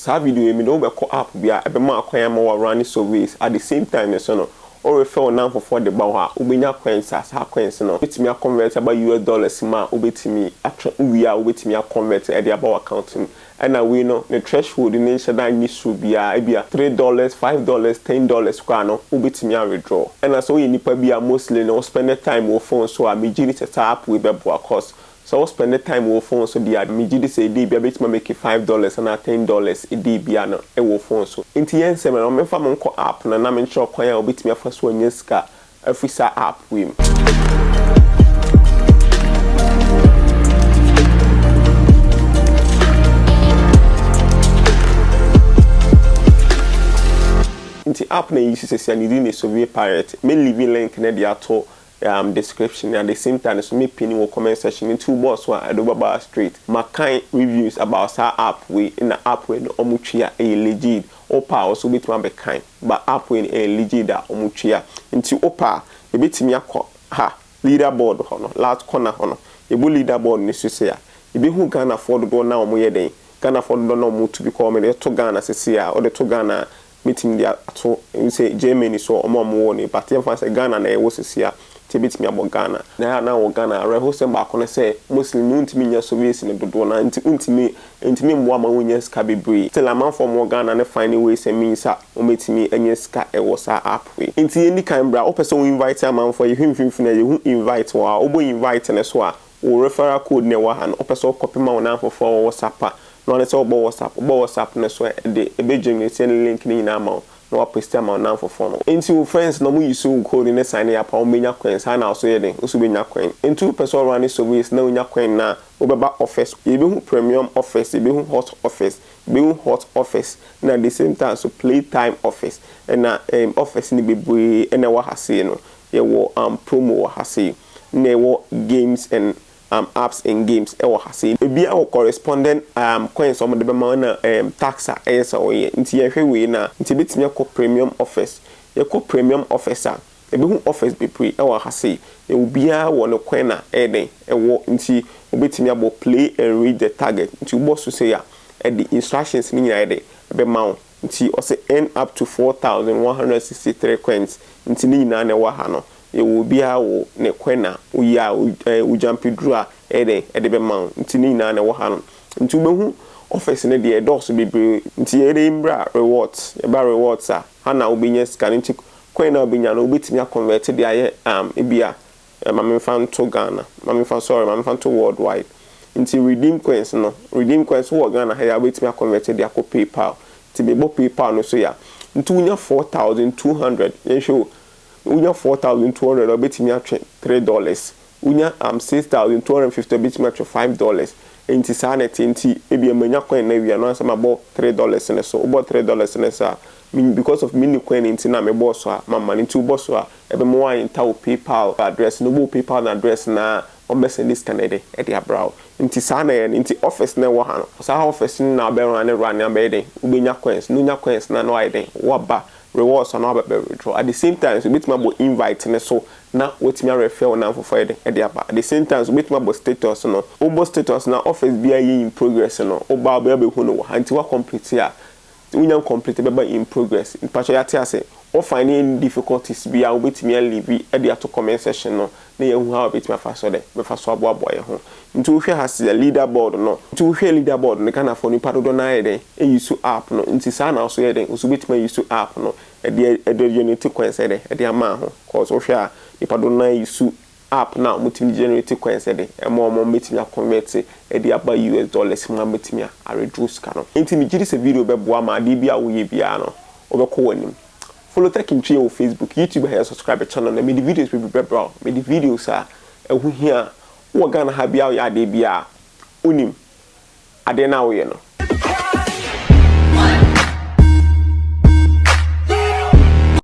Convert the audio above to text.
Saa video yi mede wo bɛkɔ app bi a ɛbɛma akwan ama wo a running surveys at the same time nso no wo refer wo namfofoɔ de ba hɔ a wobɛnya coins a saa coins no bɛtumi a convert aba US dollars mu a wobɛtumi atwe wo wie a wobɛtumi a convert de aba wo account mu ɛna wei no ne threshold no nhyɛ da nni soro biara ebia three dollars five dollars ten dollars koraa no wobɛtumi a withdraw ɛna sɛ woyɛ nipa bi a mostly no wo spend time wɔ phone so a megye di sɛ saa app wei bɛboa cause Sɛ wo spɛnde taem wo wo fon so deɛ a, me gyidi sɛ ɛdii bia bɛtumi ameki five dɔlɛs anaa ten dɔlɛs ɛdii bia no ɛwɔ wo fon so. Nti yɛ nsɛm no, menfa mo nkɔ app no na me nkyerɛ wo kwan a wobɛtumi afa so anya sika afiri saa app wei mu. Nti app no a yɛuse sesia no din de Sovie Pirate. Me liivi link no de ato um description na at the same time nso mɛ pin wɔ comment section no nti wo bɔɔ so a ɛde wo bɛba ha straight ma kan reviews about saa app wei na app wei no ɔmo tua ɛyɛ legit wo pɛ a wo nso wo bɛtumi abɛ kan but app wei no ɛyɛ legit a ɔmo tua nti wo pɛ a yɛ bɛtumi akɔ ha leader board hɔ no last corner hɔ no yɛ bɔ leader board no sesei a yɛ bɛ hu Ghanafoɔ dodoɔ no a ɔmo yɛ dɛn Ghanafoɔ dodoɔ no a ɔmo tu because me de to Ghana sesei a wo de to Ghana a mɛtumi de ato sɛ Germany so wɔn a wɔwɔ no but yɛmfa no sɛ Ghana na yɛwɔ seesei a nti ɛbɛtumi abɔ Ghana. Na ɛyɛ a na wɔ Ghana awerɛhosɛm baako ne sɛ Muslim no wontumi nyɛ surveys no dodoɔ no ara nti wontumi ɛntumi mmoa ma wonnya sika bebree. Still amanfoɔ a wɔwɔ Ghana no finding ways and means a wɔbɛtumi anya sika wɔ saa app wei. Nti yɛndi kan bra wopɛ sɛ wo invite amanfoɔ a yɛhwɛ mfimfini a yɛhu invite wɔ hɔ a wobɔ invite no so a Wo referral code na ɛwɔ ha no, wopɛ sɛ wo copy ma wo nnamfofoɔ wɔ WhatsApp a, na wo ara ne sɛ wobɔ WhatsApp. Wobɔ WhatsApp no so a, ɛde ɛbɛ generate ɛne link no nyinaa ama wo, na wa paste ama wo nnamfofoɔ no. Nti wo friends na ɔmo use wo code no signe up a, ɔmo bɛnya coin, saa na wo nso yɛ dɛn, wo nso bɛnya coin. Nti wopɛ sɛ wo runne surveys na wonya coin no a, wobɛba offers, yɛbɛhu premium offers, yɛbɛhu hot offers, yɛbɛhu hot offers, na the same time nso play time offers, ɛna ɛɛm offers no bebree ɛna ɛwɔ ha sei no, yɛwɔ ɛɛm promo wɔ ha sei. na ɛwɔ games and um apps and games ɛwɔ ha sei. Ebiaa wɔ correspondent um coins a wɔde bɛma wo ɛna um tax a ɛyɛ sɛ wo yɛ. Nti yɛhwɛ wei no a, nti yɛbɛtumi akɔ premium offers. Yɛkɔ premium offers a, yɛbɛhu offers bebree ɛwɔ ha sei. Na obiaa wɔ ne coin a ɛyɛ dɛn ɛwɔ. Nti wobɛtumi abɔ play and reach the target. Nti wobɔ so sei a, ɛde instructions no nyinaa ayɛ dɛn ɛbɛma wo. Nti ɔse earn up to 4163 coins. Nti ne nyinaa na ɛwɔ ha no. Yɛwɔ obiara wo ne kwan na woyɛ a ɛɛ wo gyampe duru a ɛyɛ dɛn ɛde bɛma wo nti ne nyinaa na ɛwɔ ha nom nti wobɛhu office no deɛ ɛdɔɔso bebree nti yɛyɛ dɛn mmra rewards yɛba rewards a ha na wobɛnya sika no nti kwan na wobɛnya no wobɛtumi a convert de ayɛ um ebia ma me mfa nto Ghana ma me mfa sorry ma me mfa nto world wide nti redeem coins no redeem coins wowɔ Ghana ha yi a wobɛtumi a convert de akɔ PayPal nti mebɔ PayPal no so yi a nti wonya four thousand two hundred yɛnhwɛ o. na wonya four thousand two hundred a, obetumi atwe three dollars. Wonya um six thousand two hundred and fifty a, obetumi atwe five dollars. Enti saa na ɛte. Enti ebia manya coin no awie a, na ɔsɛ sɛ mabɔ three dollars no so. Wobɔ three dollars no so a, min because of minni coin no nti na mebɔɔ so a, mamma no. Enti wobɔ so a, ɛbɛma wɔaenter wo PayPal address no. Wobɔ wo PayPal no address no a, wɔbɛsɛnde sika no de de abra wo. Enti saa na ɛyɛ no. Enti office no a ɛwɔ ha no, saa office no na wobɛ runne runne a, bɛyɛ dɛn? Wobenya coins. Na wonya coins no a, na wayɛ dɛn? Woaba rewards anaa wabɛ bɛ withdraw at the same time nso obetumi abɔ invite no so na watumi a refer wo nan fofoɔ yɛdɛn ɛde aba at the same time nso obetumi abɔ status no wobɔ status no a office biara ɛyɛ in progress no woba a wobɛyɛ bɛhu no wɔ ha nti wa complete a sɛ wonya ncomplete ɛbɛba in progress mpakyɛw yɛate ase wo find any difficulties biara wobetumi a leave ɛde ato comment section no na yɛahu how yɛbɛtumi afa so dɛ bɛfa so aboaboa yɛn ho. Nti wohwɛ ha sɛ leader board no, nti wohwɛ leader board no, Ghanafoɔ nnipa dodoɔ no ara yɛ dɛn ayi so app no, nti saa na wo nso yɛ dɛn, wo nso wobɛtumi ayi so app no de de generate coins yɛ dɛn de ama wo ho, cause wohwɛ a nnipa dodoɔ no ara ayi so app no a wɔtumi de generate coins yɛ dɛn ɛma wɔn ma wɔbɛtumi a convert de aba US dollars mu a wɔatumi a redraw sika no. Nti megye di sɛ video bɛboa ma adeɛ biara a woyɛ biara no wobɛkɔ w'anim. Follow Tech Ntua wɔ Facebook, YouTube a yɛ subscribe channel na mede videos bebree bɛbra wo. Mede videos a ɛho hia a wowɔ Ghana ha biaa woyɛ adeɛ biaa a wonim adeɛ no a woyɛ no.